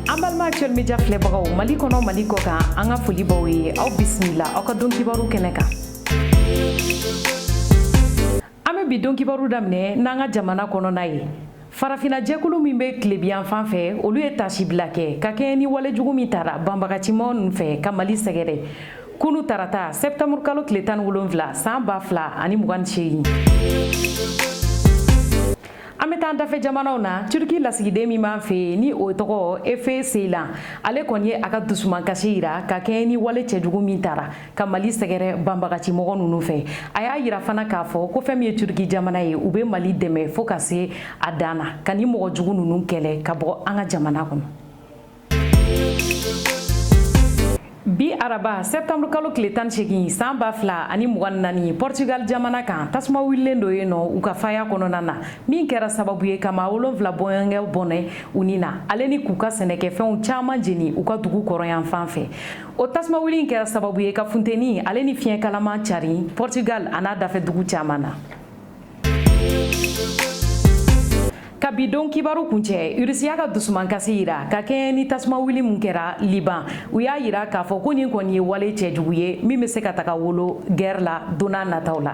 an balima actuel media filɛbagaw mali kɔnɔ mali kɔ kan an ka foli baw ye aw bisimila aw ka don kibaru kɛnɛ kan an bɛ bi don kibaru daminɛ n'an ka jamana kɔnɔna ye farafina jɛkulu min bɛ tilebiyan fan fɛ olu ye tasibila kɛ ka kɛɲɛ ni wale jugu min tara banbagacimaw ninnu fɛ ka mali sɛgɛrɛ kunu tarata sɛptanburu kalo tile tan ni wolonwula san ba fila ani mugan ni seegin an bɛ taa dafɛ jamanaw na turki lasigiden min b'an fɛ ni o tɔgɔ efe seylan ale kɔni ye a ka dusumankasi yira ka kɛɲɛ ni wale cɛjugu min tara ka mali sɛgɛrɛ banbagacimɔgɔ ninnu fɛ a y'a yira fana k'a fɔ ko fɛn min ye turki jamana ye u bɛ mali dɛmɛ fo ka se a dan na ka nin mɔgɔ jugu ninnu kɛlɛ ka bɔ an ka jamana kɔnɔ bi araba sɛptanburu kalo tile tan ni seegin san ba fila ani mugan ni naani pɔrtugal jamana kan tasuma wulilen don yen nɔ u ka faya kɔnɔna na min kɛra sababu ye ka maa wolonfila bɔɲɔgɔnko bɔnɛ u ni na ale ni k'u ka sɛnɛkɛfɛnw caaman jeni u ka dugu kɔrɔnyan fan fɛ o tasuma wuli in kɛra sababu ye ka funteni ale ni fiɲɛ kalaman cari pɔrtugal an'a dafɛ dugu caaman na ka bi don kibaru kuncɛ irisi y'a ka dusumankasi yira ka kɛɲɛ ni tasuma wuli min kɛra liban u y'a yira k'a fɔ ko nin kɔni ye wale cɛjugu ye min bɛ se ka taga wolo gɛrɛ la donna nataw la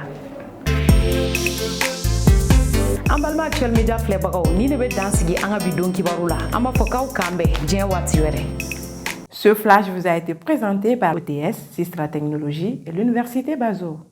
an balima actuel media filɛbagaw nin de bɛ dan sigi an ka bi don kibaru la an b'a fɔ k'aw k'an bɛn diɲɛ waati wɛrɛ Ce flash vous a été présenté par OTS, Sistra Technologie et l'Université Bazo.